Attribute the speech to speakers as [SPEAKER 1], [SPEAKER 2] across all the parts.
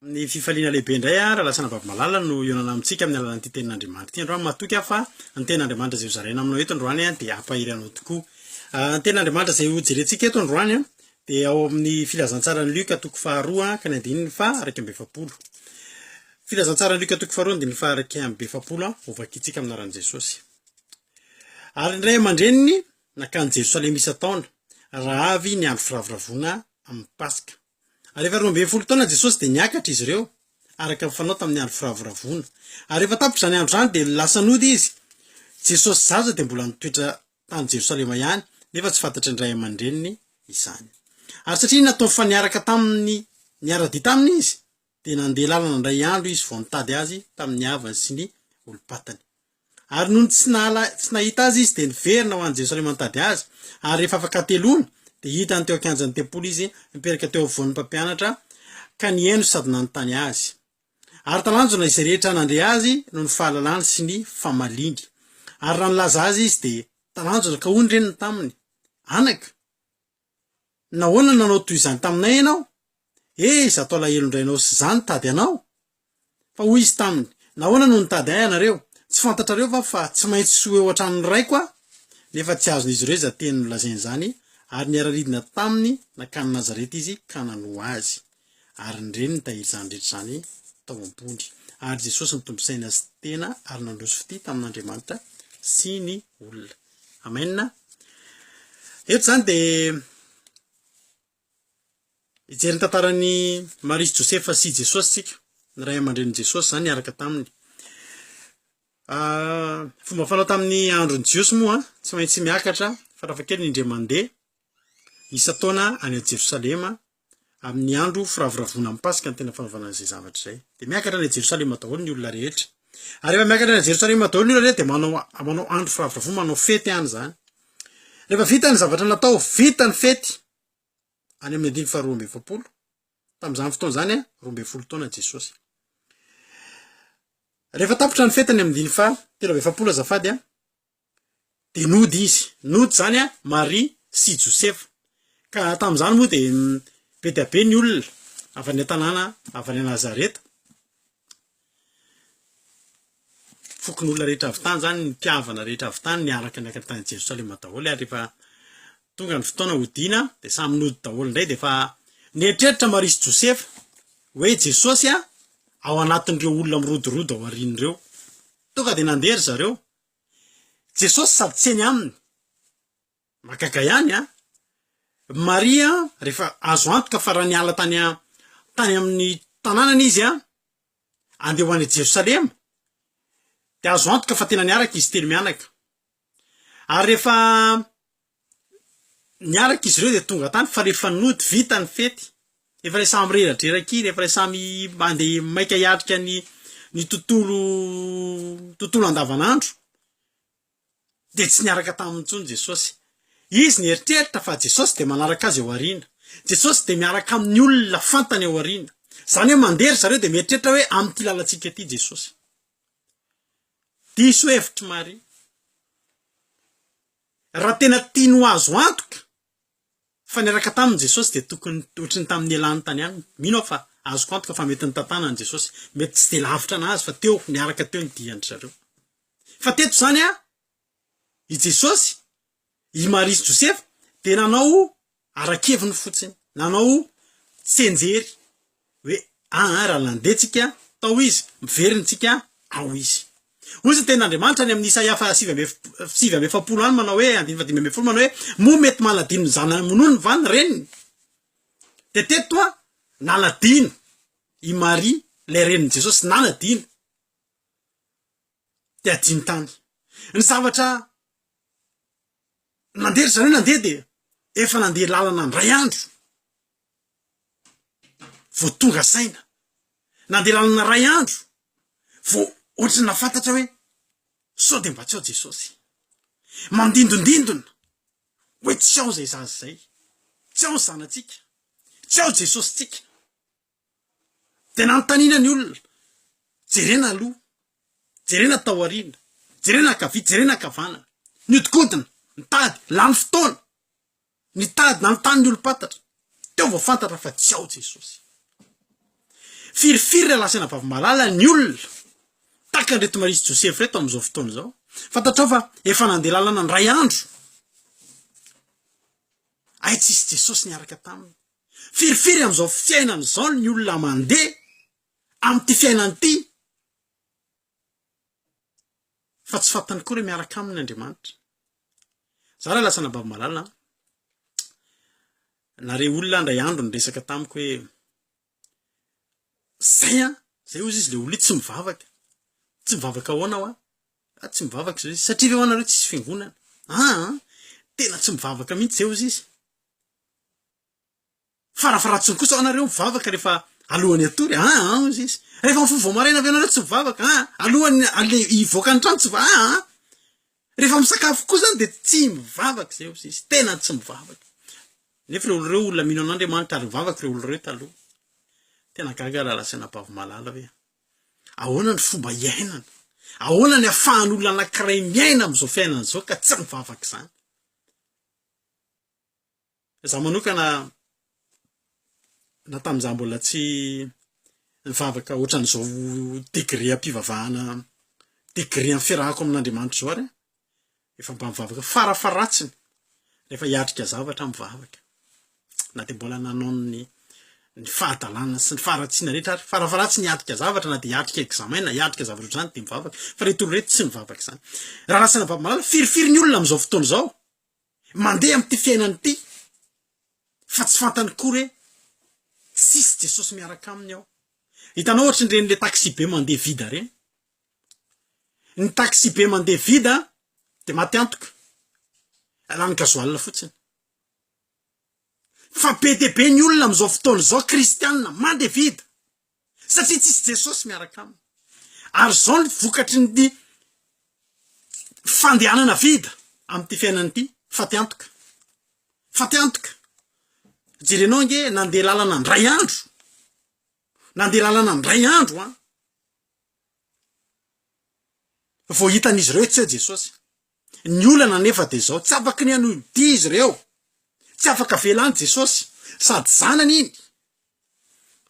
[SPEAKER 1] Amin'ny fifaliana lehibe indray aho, Ralasana Babimalala, no hihaonana amintsika amin'ny alalan'ity Tenin'Andriamanitra ity androany. Matoky aho fa ny Tenin'Andriamanitra izay hozaraina aminao eto androany dia hampahery anao tokoa. Ny Tenin'Andriamanitra izay hojerentsika eto androany dia ao amin'ny Filazantsaran'i Lioka toko faharoa ka ny andininy faha-iraika amby efapolo. Filazantsaran'i Lioka toko faharoa andininy faha-iraika amby efapolo, hovakintsika amin'ny anaran'i Jesosy. Ary ny ray aman-dreniny nakany Jerosalema isan-taona, raha avy ny andro firavoravoana amin'ny Paska. Ary rehefa roa ambin'ny folo taona Jesosy dia niakatra izy ireo, araka ny fanao tamin'ny andro firavoravoana. Ary rehefa tapitra izany andro izany dia lasa nody izy. Jesosy zaza dia mbola nitoetra tany Jerosalema ihany, nefa tsy fantatry ny ray aman-dreniny izany. Ary satria nataony fa niaraka taminy niara-dia taminy izy, dia nandeha lalana indray andro izy vao nitady azy tamin'ny havany sy ny olom-patany. Ary nony tsy nahala, tsy nahita azy izy, dia niverina ho any Jerosalema nitady azy, ary rehefa afakateloana, dia hitany teo an-kianjan'ny tempoly izy, mipetraka teo afovoan'ny mpampianatra, ka nihaino sady nanontany azy. Ary talanjona izay rehetra nandre azy noho ny fahalalany sy ny famaliany. Ary raha nilaza azy izy, dia talanjona, ka hoy ny reniny taminy, Anaka! Nahoana nanao toy izany taminay ianao? Ee, izaho tao alahelo indray ianao sy izaho nitady anao. Fa hoy izy taminy, Nahoana no nitady ahy ianareo? Tsy fantatrareo va fa tsy maintsy ho eo an-tranon'ny Raiko aho? Nefa tsy azon'izy ireo izany teny nolazainy izany, ary niara-nidina taminy nankany Nazareta izy ka nanoa azy. ary nireny ny tahir'izany rehetra izany tao am-pony. Ary Jesosy nitombo saina sy tena ary nandroso fitia tamin'Andriamanitra sy ny olona. Amen. Eto izany dia hijery ny tantaran'i Maria sy Josefa sy Jesosy tsika. Ny ray aman-drenin'i Jesosy izany niaraka taminy. Ah, fomba fanao tamin'ny andron'ny Jiosy moa, tsy maintsy miakatra farafahakeliny indray mandeha isa-taona any Jerosalema amin'ny andro firavoravoana amin'ny Paska ny tena fanaovana izay zavatra izay. Dia miakatra any Jerosalema daholo ny olona rehetra. Ary rehefa miakatra any Jerosalema daholo ny olona rehetra dia manao manao andro firavoravoana, manao fety any izany. Rehefa vita ny zavatra natao, vita ny fety any amin'ny andiny faharoa amby efapolo. Tamin'izany fotoana izany, roa ambin'ny folo taona Jesosy. Rehefa tapitra ny fety any amin'ny andiny faha telo amby efapolo azafady, dia nody izy, nody izany an, Maria sy Josefa, ka tamin'izany moa dia be dia be ny olona avy any an-tanàna avy any Nazareta, fokonolona rehetra avy tany izany, ny mpihavana rehetra avy tany niaraka niakatra tany Jerosalema daholo, ary rehefa tonga ny fotoana hodiana dia samy nody daholo indray, dia efa nieritreritra Maria sy Josefa hoe Jesosy an, ao anatin'ireo olona mirodorodo ao aoriany ireo, tonga dia nandeha ry zareo, Jesosy sady tsy eny aminy. Mahagaga ihany an! Maria rehefa azo antoka fa raha niala tany an, tany amin'ny tanànany izy an, andeha ho any Jerosalema, dia azo antoka fa tena niaraka izy telo mianaka. Ary rehefa Niaraka izy ireo dia tonga tany fa rehefa nody vita ny fety, efa ilay samy mireradreraka kely, efa ilay samy mandeha maika hiatrika ny ny tontolo tontolo andavanandro dia tsy niaraka taminy intsony Jesosy. Izy nieritreritra fa Jesosy dia manaraka azy ao aoriana. Jesosy dia miaraka amin'ny olona fantany ao aoriana. Izany hoe mandeha ry zareo dia mieritreritra hoe amin'ity lalantsika ity Jesosy. Diso hevitry Maria. Raha tena tiany ho azo antoka fa niaraka taminy Jesosy dia tokony ohatry ny tamin'ny nialany tany aminy. Mino aho fa azoko antoka fa mety nitantanany an'i Jesosy. Mety tsy dia lavitra an'azy fa teo, niaraka teo ny dian-dry zareo. Fa teto izany an, i Jesosy, i Maria sy Josefa dia nanao ara-keviny fotsiny, nanao tsianjery hoe an an raha nandeha tsika tao izy, very ny tsika ao izy. Hoy izy ny tenin'Andriamanitra any amin'ny Isaia faha sivy amby sivy amby efapolo any manao hoe, andininy faha dimy ambin'ny folo manao hoe, moa mety manadino ny zanany amonony va ny reniny? Dia teto an, nanadino i Maria ilay renin'i Jesosy, nanadino. Dia adino tany. Ny zavatra Nandeha ry zareo nandeha dia efa nandeha lalana indray andro vao tonga saina. Nandeha lalana iray andro vao ohatry ny nahafantatra hoe sao dia mba tsy ao Jesosy. Mandindondindona hoe tsy ao izay zaza izay, tsy ao ny zanatsika, tsy ao Jesosintsika. de nanontaniana ny olona, jerena aloha, jerena taoriana, jerena ankavia, jerena ankavanana, niodikodina, nitady, lany fotoana, nitady, nanontany ny olom-pantatra, teo vao fantatra fa tsy ao Jesosy, firifiry ralasaina vavy malala ny olona, tahaka an'ireto Maria sy Josefa ireto amin'izao fotoana izao, fantatrao fa efa nandeha lalana indray andro, hay tsisy Jesosy niaraka taminy. Firifiry amin'izao fiainana izao ny olona mandeha amin'ity fiainana ity fa tsy fantany koa hoe miaraka aminy Andriamanitra. Za raha lasa anabavy malala, nare olona ndray andro niresaka tamiko hoe zay an, zay ozy izy le olona io tsy mivavaka, tsy mivavaka ahoana hoa? Ah, tsy mivavaka zao izy, satria ve hoa nareo tsisy fiangonana? Ah, tena tsy mivavaka mihitsy zay ozy izy. Farafaharatsiny kosa hoanareo mivavaka rehefa alohan'ny hatory, aa aa hoy izy. Rehefa mifoha vao maraina ve ianareo tsy mivavaka, aa aa alohan'ny ale hivoaka ny trano tsy miva-, aa aa rehefa misakafo koa izany dia tsy mivavaka izay hoy izy, tena tsy mivavaka. Nefa ireo olona ireo olona mino an'Andriamanitra ary mivavaka ireo olona ireo taloha. Tena gaga aho raha lazaina am-bavomalala hoe ahoana ny fomba iainana, ahoana ny ahafahan'olona anankiray miaina amin'izao fiainana izao ka tsy mivavaka izany. Za manokana na tamin'izaho mbola tsy nivavaka ohatran'izao degré am-pivavahana degré amin'ny fiarahako amin'Andriamanitra izao ary efa mba mivavaka farafaharatsiny rehefa hiatrika zavatra aho mivavaka na dia mbola nanao ny ny fahadalana sy ny faharatsiana rehetra ary farafaharatsiny hiatrika zavatra na dia hiatrika examen na hiatrika zavatra ohatr'izany dia mivavaka fa reto olona reto tsy mivavaka izany raha raha sena baby malala firifiry ny olona amin'izao fotoana izao Mandeha amin'ity fiainana ity fa tsy fantany kory hoe tsisy Jesosy miaraka aminy ao. Hitanao ohatry ny reny le taxi-be mandeha vide reny. Ny taxi-be mandeha vide dia maty antoka. Lany gasoil fotsiny. Fa be dia be ny olona amin'izao fotoana izao kristianina mandeha vide. satria tsisy Jesosy miaraka aminy ary zao ny vokatry ny fandehanana vida amty fiainana ity faty antoka faty antoka jerenao ange nandeha lalana ndray andro nandeha lalana ndray andro an vao hitan'izy ireo tsy eo Jesosy Ny olana anefa dia izao, tsy afaka ny hanohidia izy ireo, tsy afaka avela any Jesosy, sady zanany iny,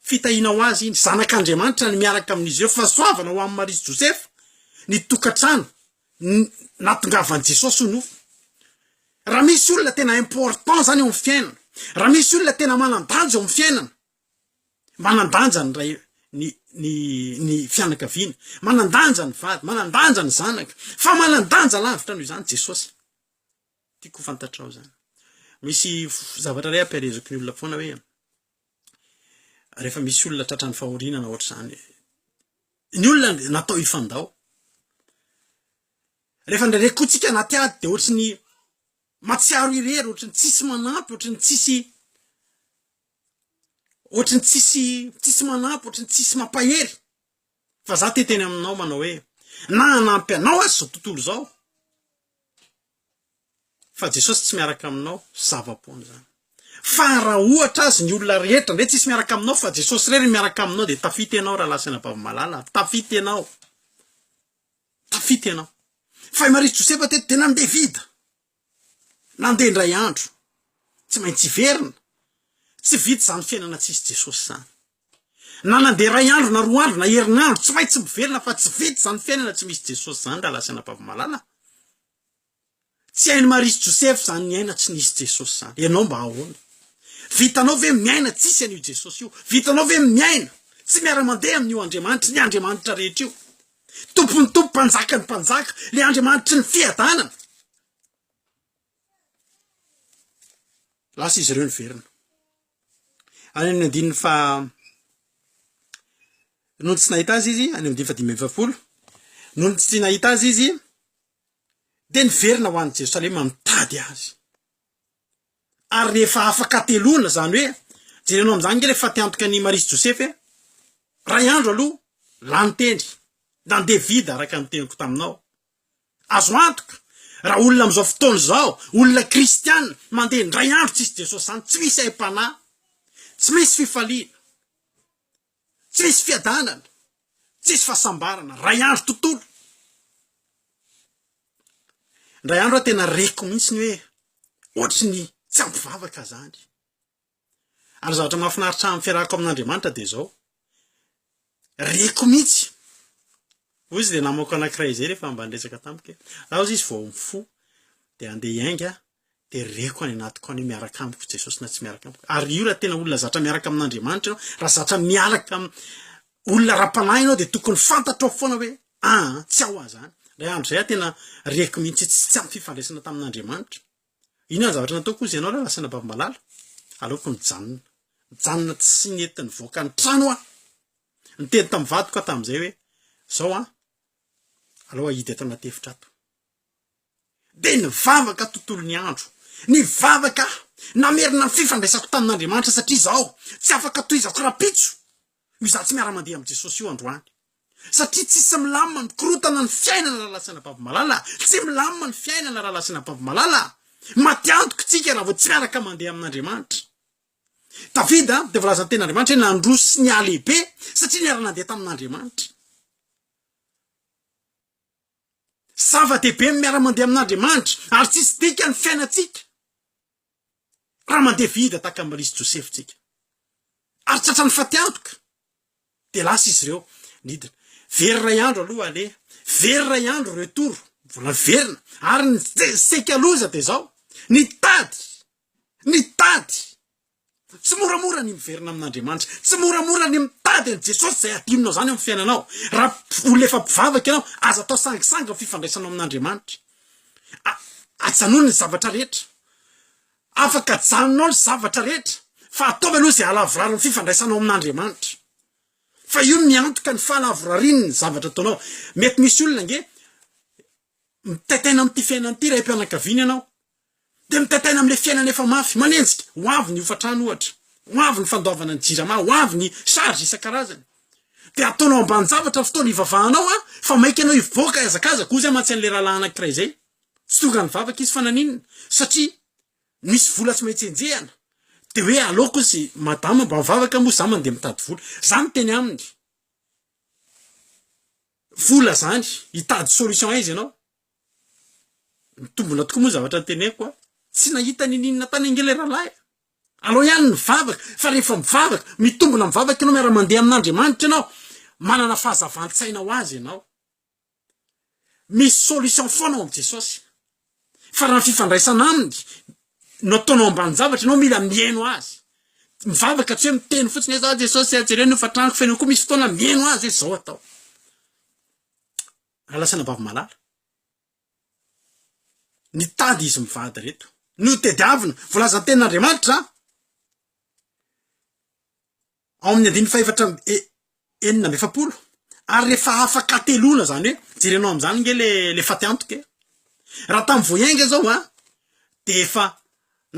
[SPEAKER 1] fitahiana ho azy iny, zanak'Andriamanitra ny miaraka amin'izy ireo, fahasoavana ho an'i Maria sy Josefa, ny tokantrano natongavan'i Jesosy ho nofo. Raha misy olona tena important zany eo amin'ny fiainana, raha misy olona tena manan-danja eo amin'ny fiainana, Manan-danja ny ray, ny, ny, ny fianakaviana. Manan-danja ny vady. Manan-danja ny zanaka. Fa manan-danja lavitra noho izany Jesosy. Tiako ho fantatrao izany. Misy zavatra iray ampielezako ny olona foana hoe, rehefa misy olona tratran'ny fahoriana na ohatr'izany, ny olona natao hifandao. Rehefa ndraindray kotsika anaty ady dia ohatry ny matsiaro irery, ohatry ny tsisy manampy, ohatry ny tsisy Ohatry ny tsisy tsisy manampy, ohatry ny tsisy mampahery. Fa za te teny aminao manao hoe, na hanampy anao aza zao tontolo izao, fa Jesosy tsy miaraka aminao, zava-poana zany. Fa raha ohatra azy ny olona rehetra ndray tsisy miaraka aminao fa Jesosy irery miaraka aminao dia tafita ianao rahalahy sy anabavy malala, tafita ianao. Tafita ianao. Fa i Maria sy Josefa teto dia nandeha vida. Nandeha indray andro. Tsy maintsy hiverina. Tsy vita izany fiainana tsisy Jesosy izany. Na nandeha iray andro na roa andro na herinandro, tsy maintsy miverina fa tsy vita izany fiainana tsy misy Jesosy izany rahalahy sy anabavy malala. Tsy hain'i Maria sy Josefa izany ny aina tsy nisy Jesosy izany. Ianao mba ahoana? Vitanao ve miaina tsisy an'io Jesosy io? Vitanao ve miaina tsy miara-mandeha amin'io Andriamanitra, ny Andriamanitra rehetra io? Tompon'ny tompo, Mpanjakan'ny mpanjaka, le Andriamanitry ny fiadanana. Lasa izy ireo niverina. Any amin'ny andininy fa noho ny tsy nahita azy izy, any amin'ny andininy fa dimy efapolo, noho ny tsy nahita azy izy, dia niverina ho any Jerosalema mitady azy. ary rehefa afaka telona zany hoe jerenao amizany nge le fa te antoka an'i Maria sy Josefa e! ray andro aloha lany tendry nandeha vide araka ny teniko taminao azo antoka raha olona amizao fotoana izao olona kristiana mandeha indray andro tsisy Jesosy zany tsy misy aim-panahy tsy misy fifaliana Tsisy fiadanana, tsisy fahasambarana, ray andro tontolo. Indray andro aho tena reko mihitsy ny hoe ohatry ny tsy ampy vavaka zany. Ary zavatra mahafinaritra amin'ny fiarahako amin'Andriamanitra dia izao. Reko mihitsy. Hoy izy le namako anankiray izay rehefa mba niresaka tamiko hoe, raha izy vao mifoha dia andeha hiainga dia reko any anatiko any hoe miaraka amiko Jesosy na tsy miaraka amiko. Ary io raha tena olona zatra miaraka amin'Andriamanitra ianao, raha zatra miaraka olona ara-panahy ianao dia tokony fantatrao foana hoe ah tsy ao aho zany. Ray andro izay aho tena reko mihitsy tsy tsy ampy fifandraisana tamin'Andriamanitra. Inona ny zavatra nataoko izy ianao raha lasa nabavimalala? Aleoko nijanona. Nijanona tsy nety nivoaka ny trano aho. Niteny tamin'ny vadiko aho tamin'izay hoe zao ah, aleo ahidy ato anaty efitra ato. dia nivavaka tontolo ny andro. Nivavaka aho, namerina ny fifandraisako tamin'Andriamanitra satria izaho tsy afaka tohizako rahampitso io izaho tsy miara-mandeha amin'i Jesosy io androany. Satria tsisy milamina mikorontana ny fiainana raha lasa anabavy malala, tsy milamina ny fiainana raha lasa anabavy malala. Maty antoka isika raha vao tsy miaraka mandeha amin'Andriamanitra. Davida dia voalazan'ny tenin'Andriamanitra hoe nandroso sy nihalehibe satria niara-nandeha tamin'Andriamanitra. Zava-dehibe ny miara-mandeha amin'Andriamanitra ary tsisy dikany ny fiainantsika raha mandeha vide tahaka Maria sy Josefa tsika. Ary tratran'ny fatiantoka dia lasa izy ireo nidina. Very iray andro aloha aleha, very iray andro retour, mbola miverina ary ny seika loza dia izao, nitady, nitady Tsy moramora ny miverina amin'Andriamanitra. Tsy moramora ny mitady an'i Jesosy izay hadinonao izany amin'ny fiainanao. Raha olona efa mpivavaka ianao, aza atao sangisangy ny fifandraisanao amin'Andriamanitra. A, ajanony ny zavatra rehetra. Afaka ajanonao ny zavatra rehetra, fa ataovy aloha izay hahalavorary ny fifandraisanao amin'Andriamanitra. Fa io no miantoka ny fahalavorariny ny zavatra ataonao. Mety misy olona ange mitaitaina amin'ity fiainana ity, raim-pianakaviana ianao, Dia mitantaina amin'ilay fiainana efa mafy, manenjika. Ho avy ny hofantrano ohatra, ho avy ny fandoavana ny jirama, ho avy ny charge isan-karazany. Dia ataonao ambanin-javatra ny fotoana ivavahanao an, fa maika ianao hivoaka hihazakazaka, hoy izay mantsy an'ilay rahalahy anankiray izay. Tsy tonga nivavaka izy fa naninona? Satria misy vola tsy maintsy enjehina. Dia hoe aleoko izy, madama mba mivavaka moa izaho mandeha mitady vola. Izaho no teny aminy. Vola izany, hitady solution aiza ianao? Mitombona tokoa moa zavatra noteneniko a! Tsy nahita niniana tany ange le rahalahy a! Alao ihany ny vavaka fa rehefa mivavaka, mitombona mivavaka ianao, miara mandeha amin'Andriamanitra ianao, manana fahazavan-tsaina ho azy ianao. Misy solution foana ao amin'i Jesosy. Fa raha ny fifandraisana aminy no ataonao ambanin-javatra, ianao mila mihaino azy. Mivavaka tsy hoe miteny fotsiny hoe za Jesosy a, jereo ny hofan-tranoko, fa ianao koa misy fotoana mihaino azy hoe zao atao. Ralasanabavy malala nitady izy mivady reto no tediavina volazan'ny tenin'Andriamanitra ao amin'ny andininy fahefatra e, enina amby efapolo ary rehefa afaka telona zany hoe jerenao amin'izany nge le le faty antoka e. raha tamin'ny voaenga zao a de efa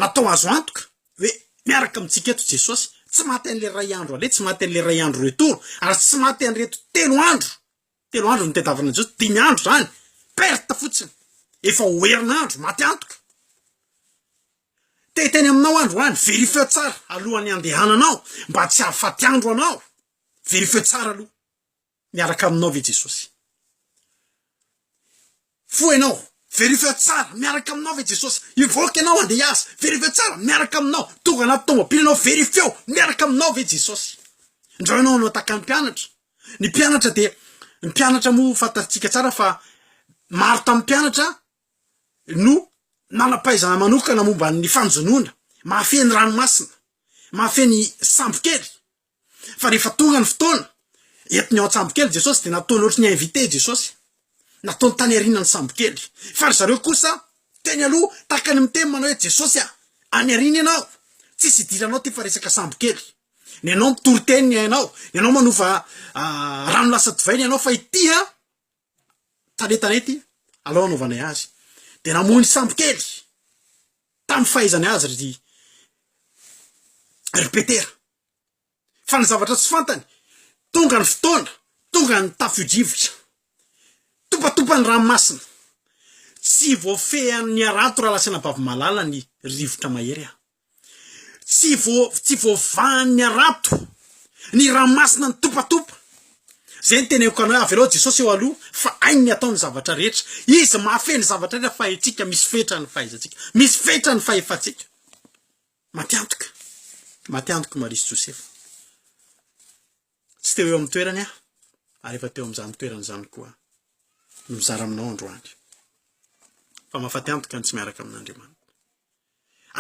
[SPEAKER 1] natao azo antoka hoe miaraka amintsika eto Jesosy tsy maty an'le ray andro ale tsy maty an'le ray andro retour ary tsy maty an'ireto telo andro Telo andro no tadiavin'ny Jiosy, dimy andro izany, perte fotsiny, efa ho herinandro, maty antoka. Te-hiteny aminao aho androany, verifieo tsara alohan'ny handehananao mba tsy hahafaty andro anao, verifieo tsara aloha, miaraka aminao ve Jesosy? Mifoha ianao, verifiao tsara, miaraka aminao ve Jesosy? Hivoaka ianao handeha hiasa, verifiao tsara, miaraka aminao, tonga anaty tomobily ianao, verifiao, miaraka aminao ve Jesosy? Indrao ianao hanao tahaka ny mpianatra, ny mpianatra dia, ny mpianatra moa fantatsika tsara fa maro tamin'ny mpianatra no nanam-pahaizana manokana momba ny fanjonoana, mahafehy ny ranomasina, mahafehy ny sambokely, Fa rehefa tonga ny fotoana, entiny ao an-tsambokely Jesosy, dia nataony ohatry ny invité Jesosy. Nataony tany aoriana ny sambokely. Fa ry zareo kosa, teny aloha, tahaka ny miteny manao hoe, Jesosy a! Any aoriana ianao. Tsisy idiranao ity fa resaka sambokely. Nenao mitory teny ny ainao. Nenao manova rano lasa divay ny ainao fa ity an! talentanety alohan'ny nanaovanay azy dia namoy ny sambo kely tamin'ny fahaizany azy ry ry Petera fa ny zavatra tsy fantany tonga ny fotoana tonga ny tafio-drivotra topatopa ny ranomasina tsy voafehan'ny harato raha lasanabavy malala ny rivotra mahery aho Tsy vo tsy voavahan'ny harato ny ranomasina nitopatopa. Zay ny teneniko anao hoe avelao Jesosy eo aloha fa hainy ny atao ny zavatra rehetra. Izy mahafehy ny zavatra rehetra fa antsika misy fetra ny fahaizantsika, misy fetra ny fahefantsika. Matiantoka, matiantoka Maria sy Josefa. Tsy teo eo amin'ny toerany aho, ary efa teo amin'izany toerana izany koa no mizara aminao androany, fa mahafaty antoka ny tsy miaraka amin'Andriamanitra.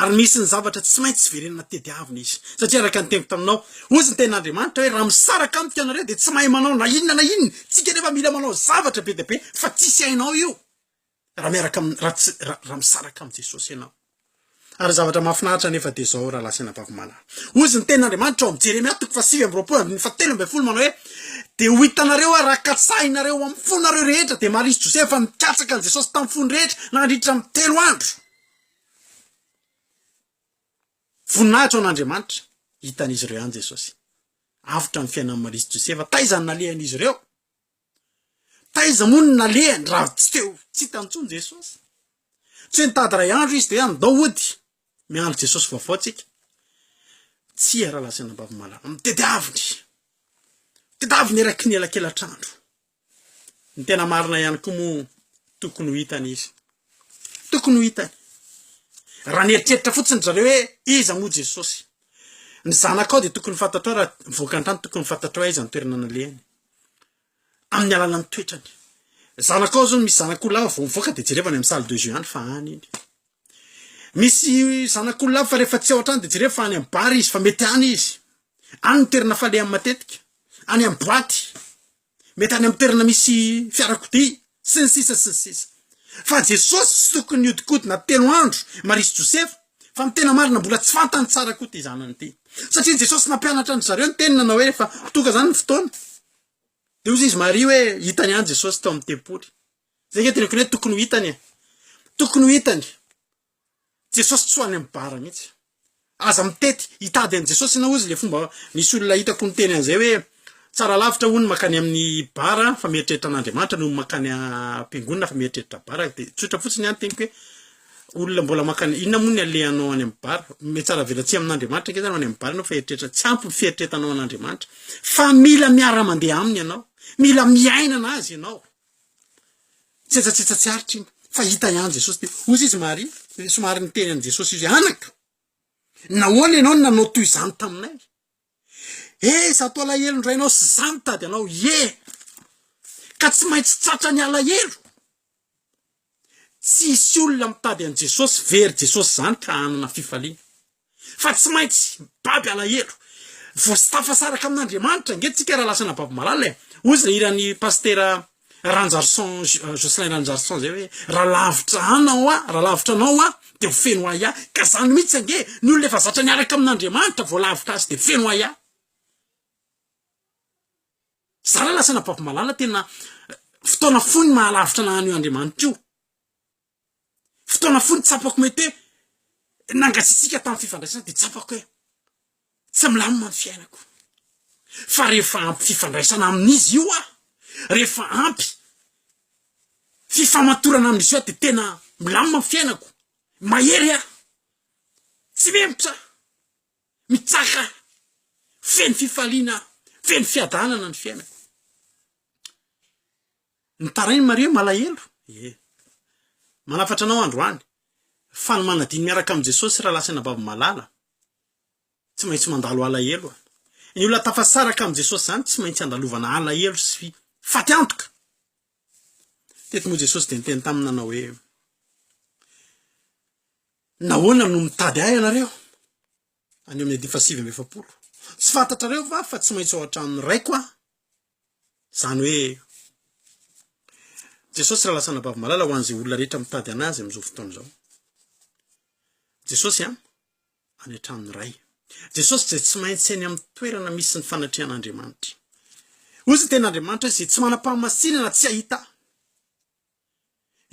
[SPEAKER 1] Ary misy ny zavatra tsy maintsy verenana tediavina izy. Satria araka ny teniko taminao, hozy ny tenin'Andriamanitra hoe raha misaraka amiko ianareo dia tsy mahay manao na inona na inona. Tsika anefa mila manao zavatra be dia be fa tsisy hainao io. Raha miaraka am, raha tsy, raha misaraka amin'i Jesosy ianao. Ary zavatra mahafinaritra anefa dia izao, rahalahy sy anabavy malala. Hozy ny tenin'Andriamanitra ao amin'ny Jeremia toko fahasivy amby roapolo andininy fahatelo ambin'ny folo manao hoe, Dia ho hitanareo ary raha katsahinareo ao amin'ny fonareo rehetra, dia Maria sy Josefa fa nikatsaka an'i Jesosy tamin'ny fony rehetra nandritra ny telo andro. Voninahitra ho an'Andriamanitra, hitan'izy ireo ihany Jesosy. Avotra ny fiainan'i Maria sy Josefa, taiza no nalehan'izy ireo? Taiza moa no nalehany raha tsy teo, tsy hita intsony Jesosy. Tsy hoe nitady iray andro izy dia hoe andao hody, miandry Jesosy vaovao tsika. Tsia raha lazaina am-bavamalaho, amin'ny tediaviny, tediaviny eraky ny elakelatr'andro. Ny tena marina ihany koa moa tokony ho hitany izy. Tokony ho hitany. Raha nieritreritra fotsiny ry zareo hoe iza moa Jesosy. Ny zanakao dia tokony fantatrao raha voaka an-trano tokony fantatrao hoe aiza ny toerana nalehany. amin'ny alalan'ny toetrany. Zanakao zao misy zanak'olona vao mivoaka de jereo any amin'ny salle de jeu any fa any iny. Misy zanak'olona fa rehefa tsy ao an-trano de jereo fa any amin'ny bar izy fa mety any izy. Any ny toerana falehany matetika, any amin'ny boaty, mety any amin'ny toerana misy fiarakodia. Sy ny sisa sy ny sisa. Fa Jesosy tsy tokony nihodinkodina telo andro Maria sy Josefa, fa ny tena marina mbola tsy fantany tsara koa ity zanany ity. Satria Jesosy nampianatra an-dry zareo niteny nanao hoe rehefa ho tonga zany ny fotoana dia hoy izy Maria hoe hitany ihany Jesosy tao amin'ny tempoly. Zay nge tokony hoe tokony ho hitany e. Tokony ho hitany. Jesosy tsy ho any am bar mihitsy. Aza mitety hitady an'i Jesosy ianao ozy le fomba misy olona hitako miteny an'izay hoe tsara lavitra hono makany amin'ny bar fa mieritreritra an'Andriamanitra noho ny makany am-piangonana fa mieritreritra bar de tsotra fotsiny ihany teniko hoe olona mbola makany inona moa ny alehanao any amin'ny bar me tsara avela tsy amin'Andriamanitra nge zany any amin'ny bar ianao fa eritreritra tsy ampy ny fieritretanao an'Andriamanitra fa mila miara-mandeha aminy ianao mila miainana azy ianao Tsetsatsetsa tsy aritra iny fa hita ihany Jesosy dia hoy izy Maria somary niteny an'i Jesosy izy hoe anaka nahoana ianao no nanao toy izany taminay? He izaho toa alahelo indray ianao sy izaho nitady anao, ie ka tsy maintsy tratran'ny alahelo. Tsisy olona mitady an'i Jesosy very Jesosy izany ka hanana fifaliana. Fa tsy maintsy baby alahelo. Voasitafasaraka amin'Andriamanitra ange tsika raha lasa anababy malala e. Hoy izay hiran'i Pasitera Ranjarisoa Jocelyn Ranjarisoa izay hoe, raha lavitra anao aho, raha lavitra anao aho dia ho feno ahy ahy. Ka izany mihitsy ange, ny olona efa zatra niaraka amin'Andriamanitra vao lavitra azy dia feno ahy ahy. Zara lasa anabavy malala tena fotoana foiny mahalavitra naha an'io Andriamanitra io. Fotoana foiny tsapako mety hoe nangatsiatsiaka tamin'ny fifandraisana dia tsapako hoe tsy milamina ny fiainako. Fa rehefa ampy fifandraisana amin'izy io aho, rehefa ampy fifamatorana amin'izy io aho dia tena milamina ny fiainako, mahery aho, tsy memotra aho. mitsaka ahy, feno fifaliana aho, feno fiadanana ny fiainako. Nitarain'i Maria hoe, Malahelo e! Manafatra anao androany, fa ny manadino miaraka amin'i Jesosy raha lasa anabavy malala, tsy maintsy mandalo alahelo aho. Ny olona tafasaraka amin'i Jesosy izany tsy maintsy andalovana alahelo sy faty antoka. Teto moa Jesosy dia niteny taminy nanao hoe, Nahoana no mitady ahy ianareo? Any amin'ny andininy fahasivy amby efapolo. Tsy fantatrareo va fa tsy maintsy ao an-tranon'ny Raiko aho? Izany hoe Jesosy raha lasa anabavy malala ho an'izay olona rehetra mitady an' Azy amin'izao fotoana izao. Jesosy an, any an-tranon'ny Ray. Jesosy izay tsy maintsy any amin'ny toerana misy ny fanatrehan'Andriamanitra. Hoy izy ny tenin'Andriamanitra izay tsy manam-pahamasinana tsy hahita ahy.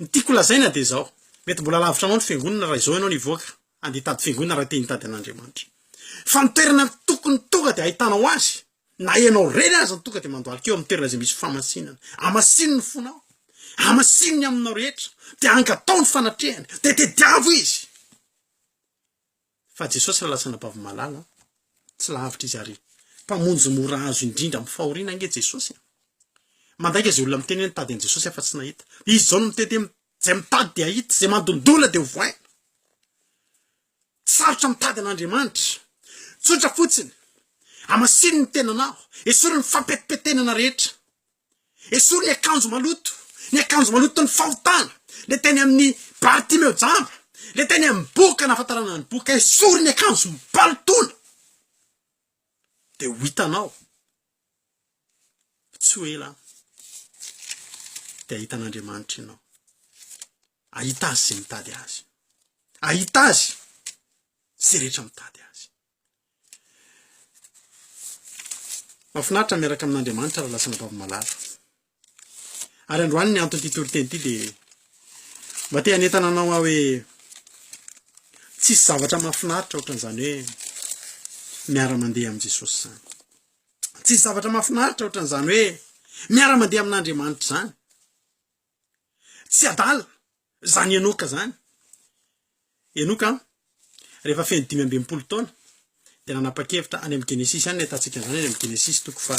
[SPEAKER 1] Ny tiako lazaina dia izao, mety mbola lavitra anao ny fiangonana raha izao ianao no hivoaka handeha hitady fiangonana raha te hitady an'Andriamanitra. Fa ny toerana tokony tonga dia ahitanao Azy, na ianao irery aza no tonga dia mandohalika eo amin'ny toerana izay misy famasinana. Amasino ny fonao, amasino ny aminao rehetra, dia angatao ny fanatrehany, dia tediavo Izy. Fa Jesosy raha lasa anabavy-malala, tsy lavitra Izy ary Mpamonjy mora azo indrindra amin'ny fahoriana ange Jesosy a! Mandainga izay olona miteny hoe nitady an'i Jesosy afa-tsy nahita. Dia izy izao no miteny hoe izay mitady dia hahita, izay mandondona dia ho voaina. Sarotra mitady an'Andriamanitra. Tsotra fotsiny, Amasino ny tenanao, esory ny fampetimpetenana rehetra. Esory ny akanjo maloto, ny akanjo maloton'ny fahotana, le teny amin'ny Bartimeo jamba, le teny amin'ny boka nahafantarana ny boka, esory ny akanjo mipalotona, de ho hitanao tsy ho ela de hahita an'Andriamanitra ianao, hahita Azy izay mitady Azy, hahita Azy izay rehetra mitady Azy. Mahafinaritra ny miaraka amin'Andriamanitra raha lasa anabavy malala. Ary androany ny anton'ity toriteny ity dia mba te hanentana anao aho hoe tsisy zavatra mahafinaritra ohatran'izany hoe miara-mandeha amin'i Jesosy izany. Tsisy zavatra mahafinaritra ohatran'izany hoe miara-mandeha amin'Andriamanitra izany. Tsy adala zany Enoka zany. Enoka an, rehefa feno dimy amby enimpolo taona dia nanapa-kevitra any amin'ny Genesisy any nahitantsika an'izany any amin'ny Genesisy toko fa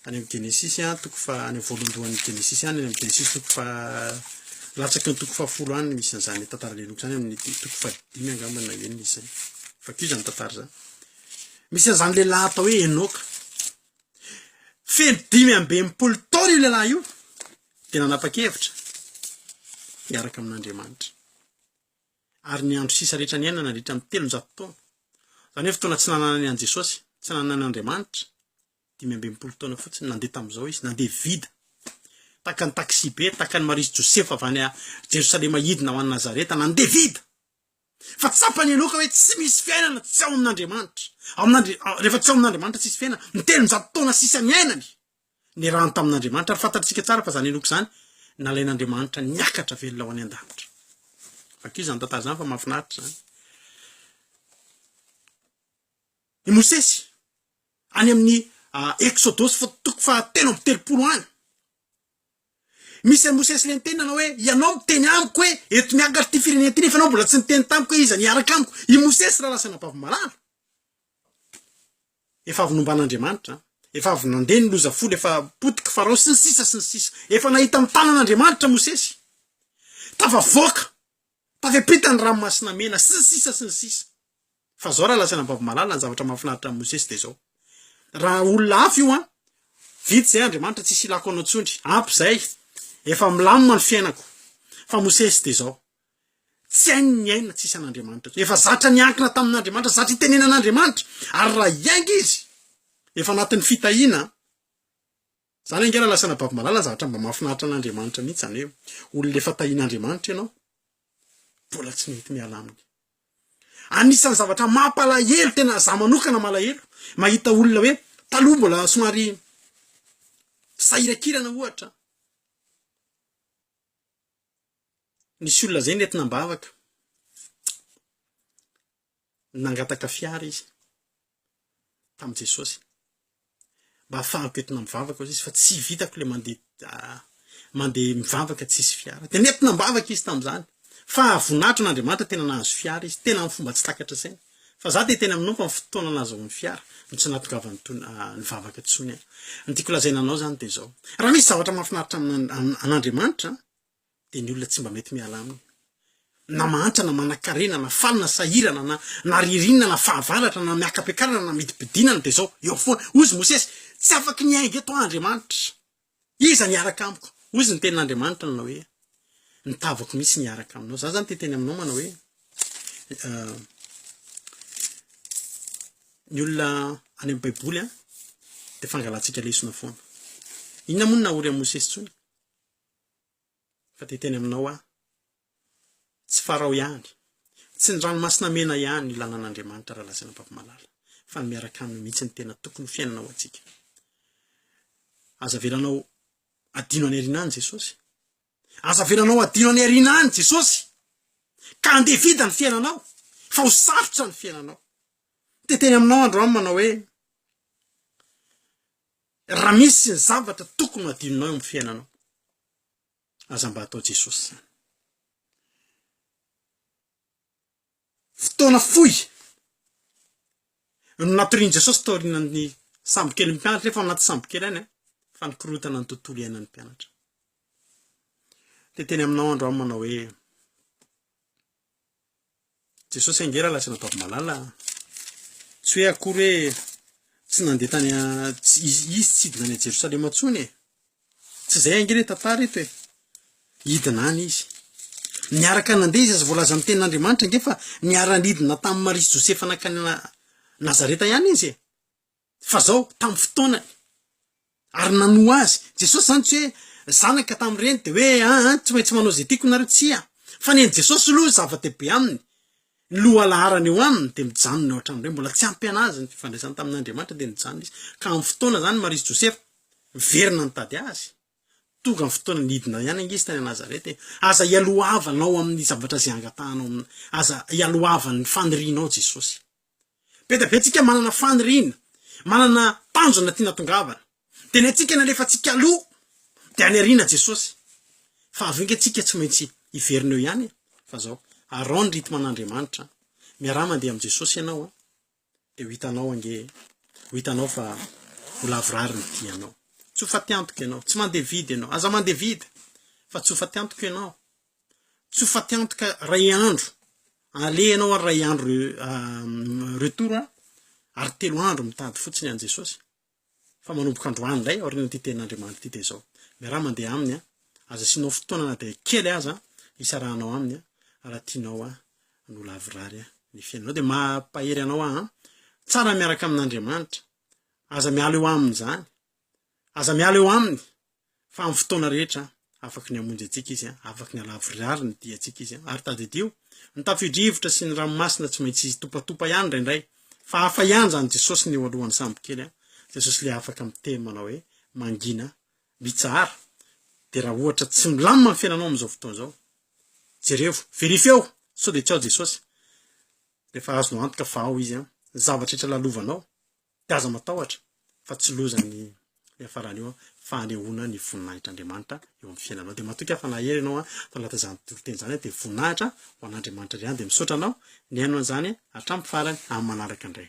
[SPEAKER 1] any amin'ny Genesisy an, toko fa any amin'ny voalohandohan'ny Genesisy any, any amin'ny Genesisy toko fa latsaky ny toko fahafolo any misy an'izany tantaran'ny Enoka izany amin'ny toko fa dimy angamba na enina izay. Vakio izany tantara izany. Misy an'izany lehilahy atao hoe Enoka. Feno dimy amby enimpolo taona io lehilahy io dia nanapa-kevitra hiaraka amin'Andriamanitra. Ary ny andro sisa rehetra niainana nandritra ny telonjato taona. Izany hoe fotoana tsy nananany an'i Jesosy, tsy nananany Andriamanitra, dimy amby enimpolo taona fotsiny nandeha tamin'izao izy, nandeha vida. Tahaka ny taxi be, tahaka ny Maria sy Josefa avy any Jerosalema hidina ho any Nazareta, nandeha vida. Fa tsapan'i Enoka hoe tsy misy fiainana tsy ao amin'Andriamanitra. Amin'Andri-, rehefa tsy ao amin'Andriamanitra tsy hisy fiainana. Ny telonjato taona sisa niainany, niarahany tamin'Andriamanitra. Ary fantatsika tsara fa izany Enoka izany nalain'Andriamanitra niakatra velona ho any an-danitra. Vakio izany tantara izany fa mahafinaritra izany. I Mosesy, any amin'ny Eksodosy toko fahatelo amby telopolo any, Misy an'i Mosesy le niteny nanao hoe, ianao miteny amiko hoe, eto miakatra ity firenena ity nefa ianao mbola tsy niteny tamiko hoe iza ny hiaraka amiko. I Mosesy rahalahy sy anabavimalaly. Efa avy nomban'Andriamanitra. Efa avy nandeha ny loza folo, efa potiky Farao sy ny sisa sy ny sisa. Efa nahita ny tanan'Andriamanitra Mosesy. Tafavoaka. Tafepeta ny ranomasina mena sy ny sisa sy ny sisa. Fa zao raha lazaina ambavimalala ny zavatra mahafinaritra an'i Mosesy dia zao. Raha olona hafa io an! Vita zay Andriamanitra tsisy ilako anao tsundry, ampy zay, efa milamina ny fiainako. Fa Mosesy dia zao. Tsy hainy ny aina tsisy an'Andriamanitra tsony. Efa zatra niankina tamin'Andriamanitra, zatra itenenan'Andriamanitra. Ary raha hiainga izy, efa anatin'ny fitahiana an! Zany ange raha lasan'i Rabavimalala zavatra mba mahafinaritra an'Andriamanitra mihitsy zany hoe olona efa tahin'Andriamanitra ianao mbola tsy nety miala aminy. Anisan'ny zavatra mampalahelo tena za manokana malahelo mahita olona hoe taloha mbola somary sahirakirana ohatra nisy olona zay netina am-bavaka nangataka fiara izy tamin'i Jesosy mba hahafahako entina mivavaka hozy izy fa tsy vitako le mandeha ah, mandeha mivavaka tsisy fiara. Dia nentina mbavaka izy tamin'izany fa voninahitr'Andriamanitra tena nahazo fiara izy, tena amin'ny fomba tsy takatra saina. Fa za dia tena minompa amin'ny fotoana nahazahoany fiara no tsy nahatongavany tony ah, nivavaka tsony aho. Ny tiako lazaina anao zany dia zao, raha misy zavatra mahafinaritra an'Andriamanitra dia ny olona tsy mba mety miala aminy. Na mahantra na manankarena na faly na sahirana na na ririnina na fahavaratra na miaka-piakarana na midimpidinana dia izao eo foana. Hozy Mosesy, Tsy afaky ny hainga eto aho Andriamanitra. Iza ny hiaraka amiko? Hozy ny tenin'Andriamanitra nanao hoe, Ny tavako mihitsy ny hiaraka aminao. Za zany te hiteny aminao manao hoe, ny olona any amin'ny baiboly dia fangalantsika lesona foana. Inona moa no nahory an'i Mosesy intsony? fa dia teny aminao aho. Tsy Farao ihany, tsy ny Ranomasina Mena ihany ny lalàn'Andriamanitra raha lazaina am-papimalala, fa ny miaraka aminy mihitsy no tena tokony ho fiainana ho antsika. Aza avelanao adino any aoriana any Jesosy. Aza avelanao adino any aoriana any Jesosy. Ka andeha vida ny fiainanao, fa ho sarotra ny fiainanao. Dia teny aminao androany manao hoe, Raha misy ny zavatra tokony ho adinonao eo amin'ny fiainanao, aza mba atao Jesosy izany. Fotoana fohy no natorian'i Jesosy taorian'ny sambokely mpianatra, efa anaty sambokely any, fa nikorotana ny tontolo iainan'ny mpianatra. Dia teny aminao andro aho manao hoe, Jesosy ange raha lasa nataovy malala an! Tsy hoe akory hoe tsy nandeha tany izy tsy hidina any Jerosalema intsony e! Tsy izay ange le tantara eto e! Hidina any izy. Niaraka nandeha izy aza voalaza amin'ny tenin'Andriamanitra ange fa niara-nidina tamin'i Maria sy Josefa nankany Nazareta ihany izy e! fa zao tam fotoanany ary nanoa azy Jesosy zany tsy hoe zanaka tam reny de hoe aa tsy maintsy manao ze tiko nareo tsia fa ny any Jesosy loha zava dehibe aminy ny lohalaharany eo aminy de mijanona eo an-trano reny mbola tsy ampy anazy ny fifandraisany tamin Andriamanitra de nijanona izy ka am fotoana zany Maria sy Josefa miverina nitady azy tonga ny fotoana nidina ihany ange izy tany Nazareta e aza ialohavanao aminy zavatra ze angatahanao aza ialohavan'ny fanirianao Jesosy Be dia be antsika manana faniriana, manana tanjona tiana tongavana. Dia ny antsika ny alefantsika aloha dia any aoriana Jesosy. Fa avy eo ange tsika tsy maintsy hiverina eo ihany e. Fa zao, araho ny rythme an'Andriamanitra an. Miaraha mandeha amin'i Jesosy ianao an. Dia ho hitanao ange, ho hitanao fa ho lavorary ny dianao. Tsofa te-antoka ianao, tsy mandeha vide ianao, aza mandeha vide fa tsofa te-antoka ianao. tsy ho faty antoka ray andro, aleha ianao ary ray andro retour an, ary telo andro mitady fotsiny an'i Jesosy, fa manomboka androany indray aorian'ity tenin'Andriamanitra ity dia izao, miaraha mandeha aminy an, aza asianao fotoana na dia kely aza hisarahanao aminy an, raha tianao an ny ho lavorary ny fiainanao, dia mampahery anao aho an, tsara ny miaraka amin'Andriamanitra, aza miala eo aminy izany, aza miala eo aminy. fa amin'ny fotoana rehetra afaky ny hamonjy antsika izy, afaky ny halavorary ny diantsika izy. Ary tadidio, ny tafio-drivotra sy ny ranomasina tsy maintsy topatopa ihany indraindray, fa hafa ihany izany Jesosy ny eo alohan'ny sambokely, Jesosy ilay afaka miteny manao hoe, mangina, mitsahara. Dia raha ohatra tsy milamina ny fiainanao amin'izao fotoana izao, jerevo, verifiao, sao dia tsy ao Jesosy. Rehefa azonao antoka fa ao izy, ny zavatra rehetra lalovanao, Dia aza matahotra fa tsy loza ny hiafarany io fa hanehoana ny voninahitr'Andriamanitra eo amin'ny fiainanao. Dia matoky aho fa nahery ianao fa nalaza izany toriteny izany dia voninahitra ho an'Andriamanitra indray ihany dia misaotra anao nihaino an'izany hatramin'ny farany amin'ny manaraka indray.